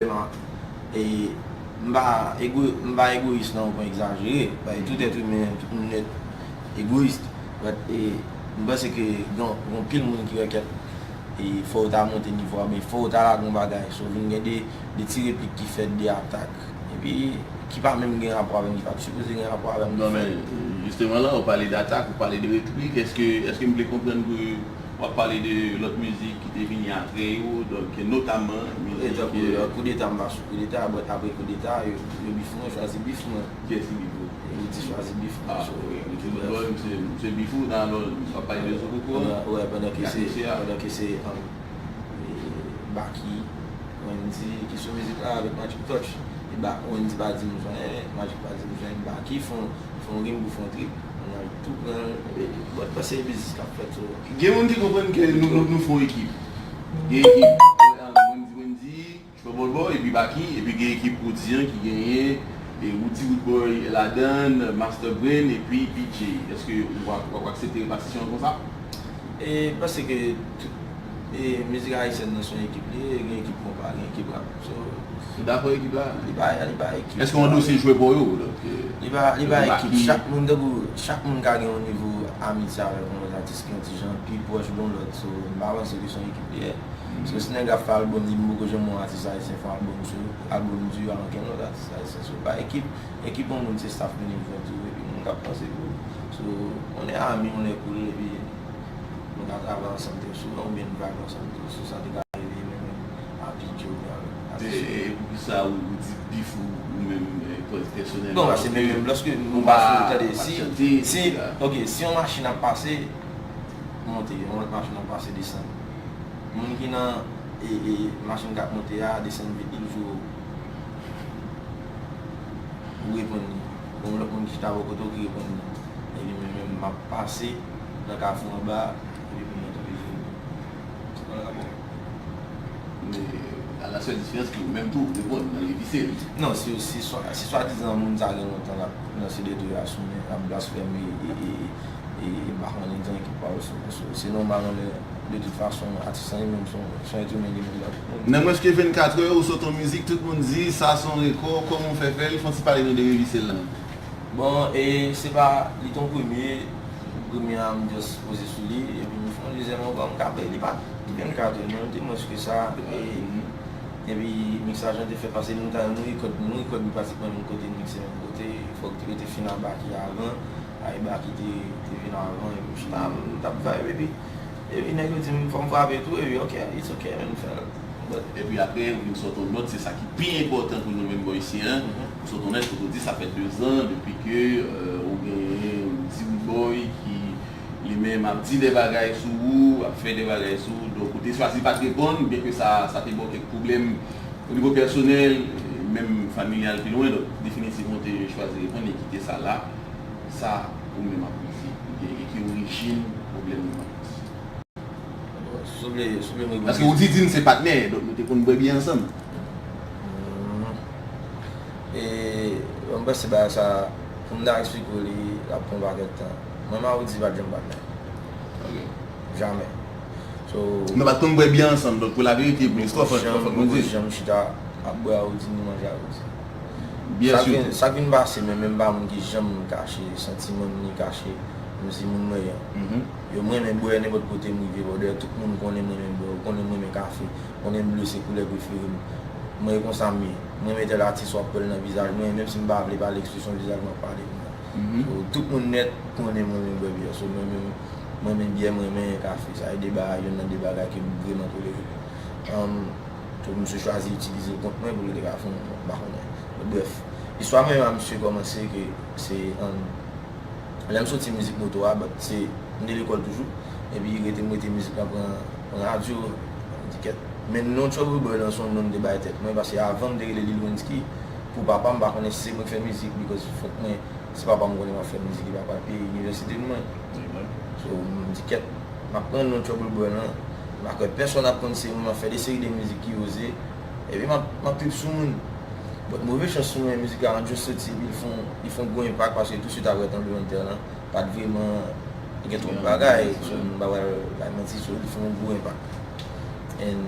M pa egoyis nan yon pwen egzajere, paske tout èt imen, tout moun nèt egoyis, but m panse ke gen yon pil moun ki wè kèt e fò yo ta monte nivo a oubyen fò yo ta lage yon bagay, so vin gen de ti replik ki fèt, de atak, epi ki pa menm gen rapò avè m, ki pa t sipoze gen rapò avè m. Non men, jisteman la ou pale datak, ou pale de replik, eske m byen konprann ke W ap pale de lòt mizik ki te vini apre yo, donk notamman mizik. Tankou koudeta m pa sou koudeta, but apre koudeta yo bif mwen, yo chwazi bif mwen. Kiyès ki bif ou? Rudy chwazi bif mwen. Ah ok, Rudy Bon Boy se bif ou, nan alò w ap pale de Zokoko an? Wè pandan ke se, pandan ke se Baky, Wendy ki sou mizik la avèk Magic Touch, Wendy pa di m jan, Magic pa di m jan, Baky fon rim pou fon trip. Tou pran bòt pase biznis kap fèt sou ou. Gen moun ki konprann ke nou fon ekip. Gen ekip Wendy Wendy, Trouble Boy epi Baky epi gen ekip Roody an ki genyen Roody Roodboy ladann, Master Brain epi PJ. Eske ou ap aksepte repatisyon an konsa? E panse ke tout mizik ayisyèn nan son ekip li ye, gen ekip konpa, gen ekip rap. Li pa pou ekip la? Li pa li pa ekip. Eske yon dosye jwe pou yo? Donk e. Li pa li pa ekip. Chak moun tankou chak moun ka gen yon nivo amitye avèk yon lòt atis ki yon ti jan pi pwòch gon lòt. So m pa panse ke se yon ekip li ye. So si nèg ap fè album li m poko janm wè yon atis ayisyen fè yon album sou album dua ankenn lòt atis ayisyen. So li pa ekip. Ekip yon moun se staff management tou epi moun k ap panse pou ou. So on est amis, on est cool epi nou ka travay ansanm tou souvan oubyen nou pa konsanm tou sou sa ki ta rive menm. Papi Jovenel ase chè. E poukisa ou di bif ou menm pèsonèlman? Non pase menm menm lòske nou pa sou tande si si ok si yon machin ap pase monte yon lòt machin ap pase desann moun ki nan e e machin kap monte a desann vit li toujou ou reponn li yon lòt moun ki chita bò kote w ki reponn li epi mwen menm map pase nan kafou anba epi moun nan toujou di m se pa rapò. Men, a la sèl diferans ke ou menm tou ou te bon nan revise li. Non, si si swa dizan moun sa gen lontan lap lanse detwi a sou mwen, lap blasfème e m pa konnen gen ekip pa yo se nòmal anlè de tout fason atis lan li menm se yon èt imen li menm jan tout moun. Nan mwens ke 24 è ou sot yon mizik tout moun di sa son rekò, kòman ou fè fè l, fon ti pale nou de revise l lan? Bon e se pa li t yon premye, premye a m just poze sou li epi m fon dezyèm ankò m ka bay li pa. Li menm ka tou, nou te mwens ke sa, epi miksaj lan te fèt pase nou ta nou rekòd nou rekòd li pratikman menm kote nou mikse menm kote, fòk yo te fin a Baky avan, paske Baky te vin avan epi m chita m tap vibe epi epi nèg yo di m fòm frape tou epi ok it's ok m fèl but. Epi aprè ou vin sot on nòt se sa ki pi enpòtan pou nou menm bò isi an, ou sot on nòt kote ou di sa fè 2 zan depi ke ou gen yon diwoudbòy ki li menm ap di de bagay sou ou, ap fè de bagay sou ou, donk ou te chwazi pat reponn, byen ke sa sa te ba w kèk pwoblèm o nivo pèsonèl, menm familyal pi lwen, donk definitivman ou te chwazi reponn e kite sa la, sa ou menm ap di ou te e ki orijin pwoblèm nou an plis? Bon, si w vle, si w vle m reponn. Paske ou di di n se patnè, donk nou te konn bwè byè ansanm. Hum, e m panse bagay sa pou m ta eksplike w li ap pran w pakèt tan. Mwen ma Roody pat janm bat nèg. Ok. Jamè. So. Nou pat konn bwè byè ansanm donk pou la verite pou listwa fòk nou di. Mwen poko janm chita ap bwè a Roody ni manje a Roody. Byè sitou. Sak vin pase men menm pa moun ki janm kache santiman m ni kache m si moun mwen yan. Yo m renmen bwè nenpòt kote m rive bò. Dayè tout moun konnen m renmen bwè. Yo konnen m renmen kafe. Yo konnen ble se koulè prefere m. Mwen e konsa m ye. M renmen tèl atis wap wè l nan vizaj mwen menm si m pa vle pale ekspresyon vizaj m ap pale. So tout moun nèt konnen m renmen bwè byè. So mwen menm, m renmen byè, m renmen kafe. Sa se 2 bagay, yonn nan 2 bagay ke m vreman tolere yo. Umm so misye chwazi itilize l kont mwen pou l te ka fè yon, m pa konnen. Bon brèf, istwa mwen menm a misye kòmanse ke se umm lè m soti mizik moto a, but se m te lekòl toujou, epi rete m rete mizik lan pran radyo, m di kèt. Men non Trouble Boy lan se yon non m te bay tèt mwen, paske avan m te rele Lil Wensky. Pou papa m pa konnen si se mwen k fè mizik because fòk mwen si papa m konnen map fè mizik epi apral peye inivèsite m mwen so m di kèt map pran non trouble boy lan m pa kwè pèsonn ap konn se mwen map fè de seri de mizik ki oze epi map trip sou moun but move chans pou mwen mizik la an just soti epi li fon li fon gwo enpak paske tou swit aprè tranblemann tè lan pat vreman gen twòp bagay so m pa pral bay manti so li fon gwo enpak and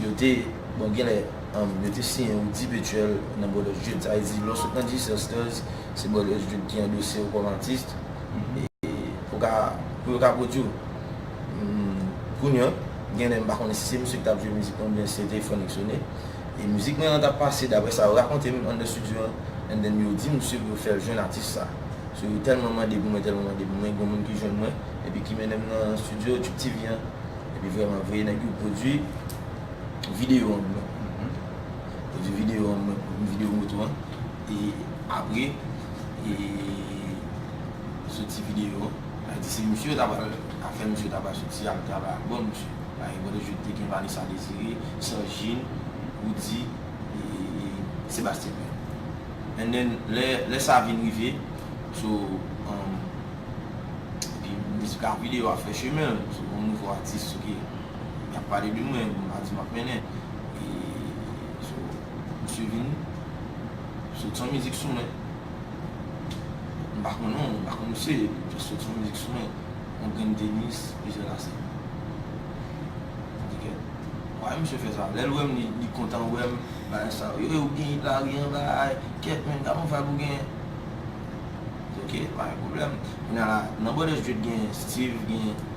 yo te bon genlè. Yo te siyen yon divetyèl nan Brothers Street, sa vle di lè w sot nan G-Sisters, se Brothers Street ki andose w kòm atis pou yo ka pwodui w. Kounye an, gen lè m pa konnen si se misye ki t ap jwe mizik lan oubyen se te Franck Soene, e mizik mwen an t ap pase daprè sa yo rakonte m anndan stidyo an, and then yo di misye pou yo fè l jwenn atis sa. So yo tèlman mande pou mwen, tèlman mande pou mwen, gen yon moun ki jwenn mwen epi ki mennen m nan stidyo Tchouptivi an epi vrèman vre nèg yo pwodui. video an bro. Pèdi video an mwen pou video moto an e apre e soti video an a di se misye yo ta pral a fè misye ta pral soti al travay ak bon misye pagen bon de jou te gen Vanessa Desiré, Sanjin, Roody e Sébastien Pierre and then lè lè sa vin rive so epi mizik a video a fè chemen l sou yon nouvo atis ok. Yap pale de mwen, m pa di map mennen e so misye vini sot son mizik sou mwen m pa konnen w, m pa konn misye epi l just sot son mizik sou mwen on grenn tenis plizyè lase m di kèt why misye fè sa lè l wè m li kontan wè m bagay sa yo e ou gen it la wi anba ay kèt menn gad on vibe ou genyen m di ok pa gen pwoblèm kounya la nan Bòdè Street genyen Steeve genyen.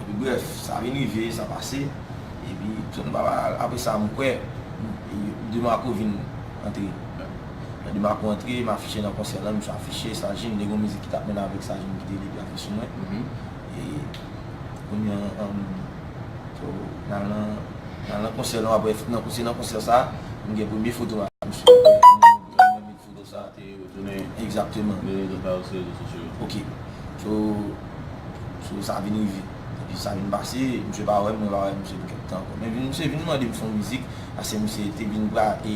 Epi brèf, sa vin rive, sa pase. Epi, John Baba, apre sa, m kwè, DeMarco vin antre. Lè DeMarco antre, m afiche nan konsè lan, misye afiche, Sajin, gen yon mizik ki t ap mennen avèk Sajin ki te rele Plake sou mwen. E, kounye an, so, n al nan, n al nan konsè lan, aprè, se nan konsè sa a, m gen premye foto m avèk misye. Mo sa a te retounen egzakteman. Rezo sosyo pa yo se rezo sosyo yo. Ok. So, so sa vin rive. Epi sa vin pase, misye pa wè m, mwen pa wè misye pou kèk tan ankò. Men misye vin mande m fon mizik, paske misye te vin pra e,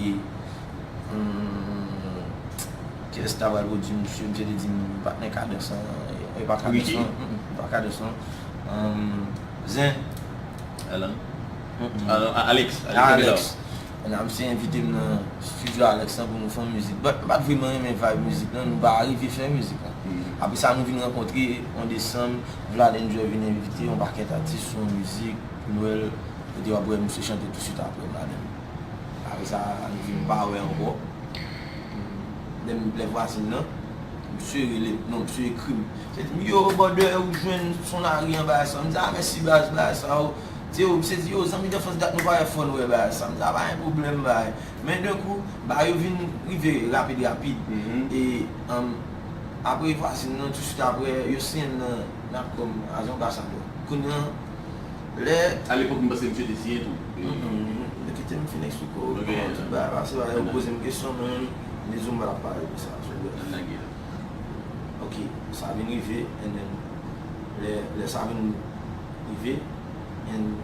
humm, kiyès ki ta pral pwodui misye? Misye te di m patnè Kadans lan, e pa Kadans lan, humm, e pa Kadans lan, humm, Zen. Alan? Humm, Alan, Alex, Alex. Alex. Ramsey envite m nan studio Alex lan pou nou fon mizik but m pat vreman renmen vibe mizik lan nou pa arive fè mizik lan. Apre sa nou vin rankontre an desanm Vlad Enjoy vin envite yon pakèt atis sou yon mizik pou nwèl kote wap wè misye chante touswit apre m la menm. Apre sa nou vin pa wè ankò pou lè vwazin lan misye rele m non misye ekri m misye di m yo bòdè ou jwenn son lari anba sa m di a mèsi baz bagay sa yo Se yo, m sezi yo, zanmi danfans dat nou pa wè fòn wè bagay sa. M ta bay pwoblèm bay. Men de kou, bagay yo vin rive rapid rapid. E apre vwazin nan tou swit apre, yo siyen m nan Natcom as anbasadè. Kounye an, lè. A lepòk m panse misye te siyen tou. Mwen kite m fin eksplike w kòman tout bagay pase la. Yo poze m kesyon mwen menm, ni Zumba l ap pale de sa. An nan gè a. Ok, sa vin rive, and then, lè sa vin. rive and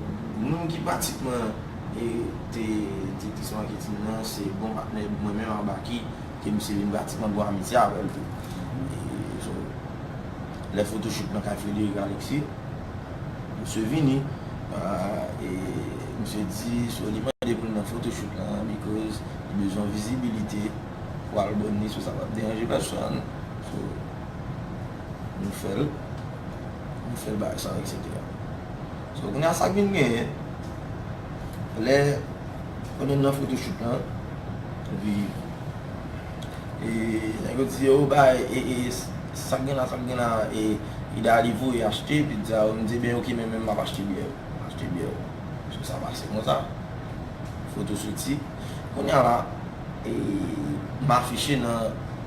moun ki pratikman te te te son anke team nan se bon patnè mwen menm ak Baky ke misye vin pratikman bon amitye avèl tou e so lè photoshoot nan kay Frédéric Alexis misye vini e misye di so li mande pou l nan photoshoot lan because li bezwen vizibilite pou album li so sa pap deranje pèsòn so. Nou fèl Nou fèl bagay sa etc. So kounya sak vin genyen lè Pandan nou nan photoshoot lan epi e nèg yo di yo bay e sak gen la sak gen la e Idalie voye achte epi di a yo mdi ebyen ok men menm map achte byè yo map achte byè yo So sa pase konsa Foto soti Kounya la e m afiche nan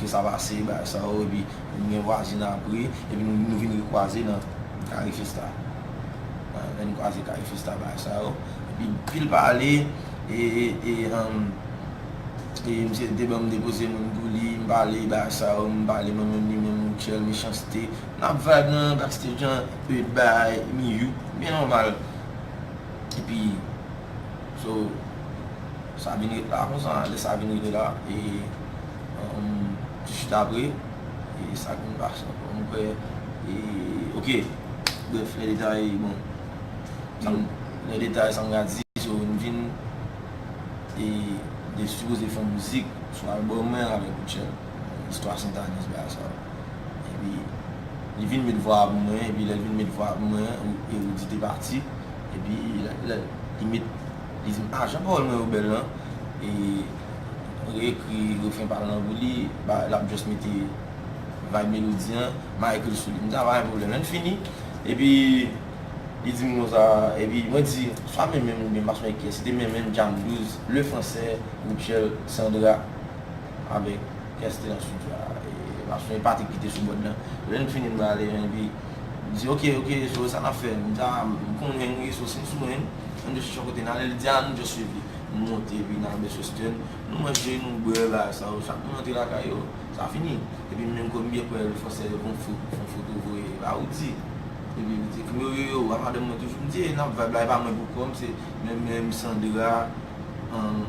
Ke sa pase bagay sa yo epi nou gen vwazin apre epi nou vin rekwaze nan kare festa lè nou kwaze kare festa bagay sa yo epi pil pale e misye te banm depoze moun pou li m pale bagay sa yo m pale mwen menm li menm mutuel mechanste nap vibe nan backstage an e bagay mi youk byen nòmal epi. So sa vin ret la konsa lè sa vin rive la e ti chita apre e sa vin pase ankò mwen kwè e ok brèf lè detay bon lè detay sa m ka di so m vin e de sipoze fè yon mizik sou albòm mwen avèk Rutshelle istwa Sentaniz bagay sa yo epi li vin met vwa a pou mwen epi lè l vin met vwa a pou mwen e Roody te pati. Epi lè li met li di m ah jan pawòl mwen yo bèl nan e re ekri refren pa l nan pou li ba l ap just mete vibe melodi an ma ekri l sou li m di a pa gen pwoblèm lè n fini epi li di m konsa epi mwen di swa men men m oubyen m pa sonje kiyès se te men men m djanm douz le fransè Rutshelle Sandra avèk kiyès te nan studio a e m pa sonje Patrick ki te sou bòd lan lè n fini m ale epi. Li di, Ok, ok, Zoe, sa n ap fè? M ta konn Henry sou Henry sou Henry. An nou chèche yon kote n ale. Li di, An nou dwe suiv li. Nou monte epi n al Best Western. Nou manje, nou bwè, bagay sa yo. Chak moun antre lakay yo, sa fini. Epi m menm kòm m byen kwè l, fò sèl yon foto, yon foto voye ba ou di. Epi li di, Yo, yo, yo, a madanm mwen toujou. M di, E nan vibe la, e pa mwen pou kòm, se mwen menm, Sandra, an,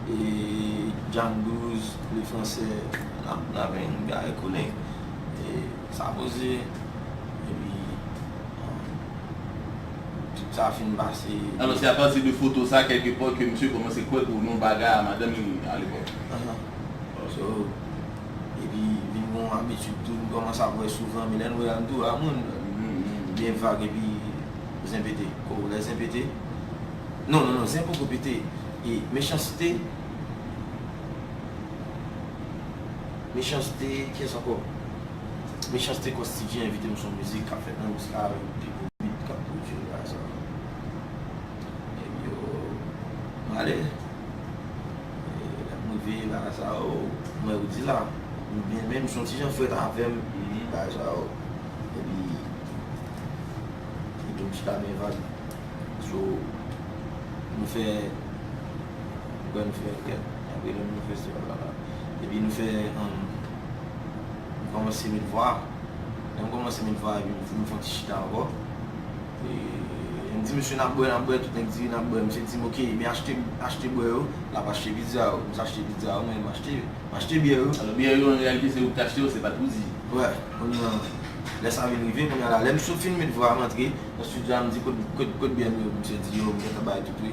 e Djangouz, le Français. N ap, n ap, n ap konnen. te sa poze epi tout sa fin pase. Alò se apati de foto sa kèlke pòt ke misye kòmanse kwè ke w nan yon bagay a madanm li alepòk. Ahan. So, epi vin gen yon abitid tou nou kòmanse ap wè souvan men lè nou wè a nou tou wè a moun byen vag epi zen pete. O, lè zen pete, non, non, non, zen poko pete, e mechansite. Mechanste kiyès ankò? Mechanste kò Steevie envite m son mizik kap fèt nan mizik la avèk pi gwo beat kap pwodui nan Gaza an Nèg yo prale Lè m rive bagay sa yo m wè yo di la m byen men m son ti jan frèt avèm epi bagay sa yo epi li tou m chita byen vag so nou fè m kwè nou fè kèk apre lè m nan fè se blablabla. epi nou fè an m kòmanse met vwa lè m kòmanse met vwa epi m fon ti chita ankò m di mesye nap bwè nap bwè tout nèg di nap bwè mesye di m ok men achte achte bwè yo lap achte pizza yo m achte pizza yo mwen m achte m achte biyè yo alò biyè yo an reyalite se ou ki t achte yo se pat Roody wè kounye an lè sa vin rive kounye an la lè m sot fin met vwa m antre nan studio a m di kot kot biyè m yo mesye di yo m gentan bay tout wi.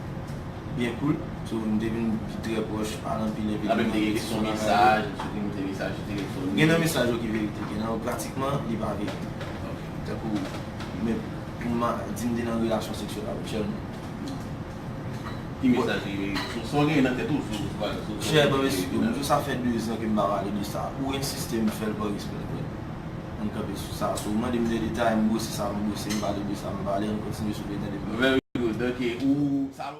Byen koul, so nou te vin trè pwòch pa nan pil evenman. Nan menm te gen kesyon mesaj, m sipoze m te mesaj telefone. Gen nan mesaj yo ki verite, gen nan yo pratikman li pa verite. Tankou men pou m di m te nan relasyon seksyèl avèk chè m. Ki mesaj ki verite? Sa w genyen nan tèt ou sou sa w te vin nan. Chè m anmèsi tou. M di w sa fè dezan ke m pa pale de sa. Ou ensiste m fè l pa respè. Ann kanpe sou sa. Si w mande m de detay, m brose sa m brose, m pale de sa m pale. Ann kontinye sou Betèl epi. Very good, ok. Ou.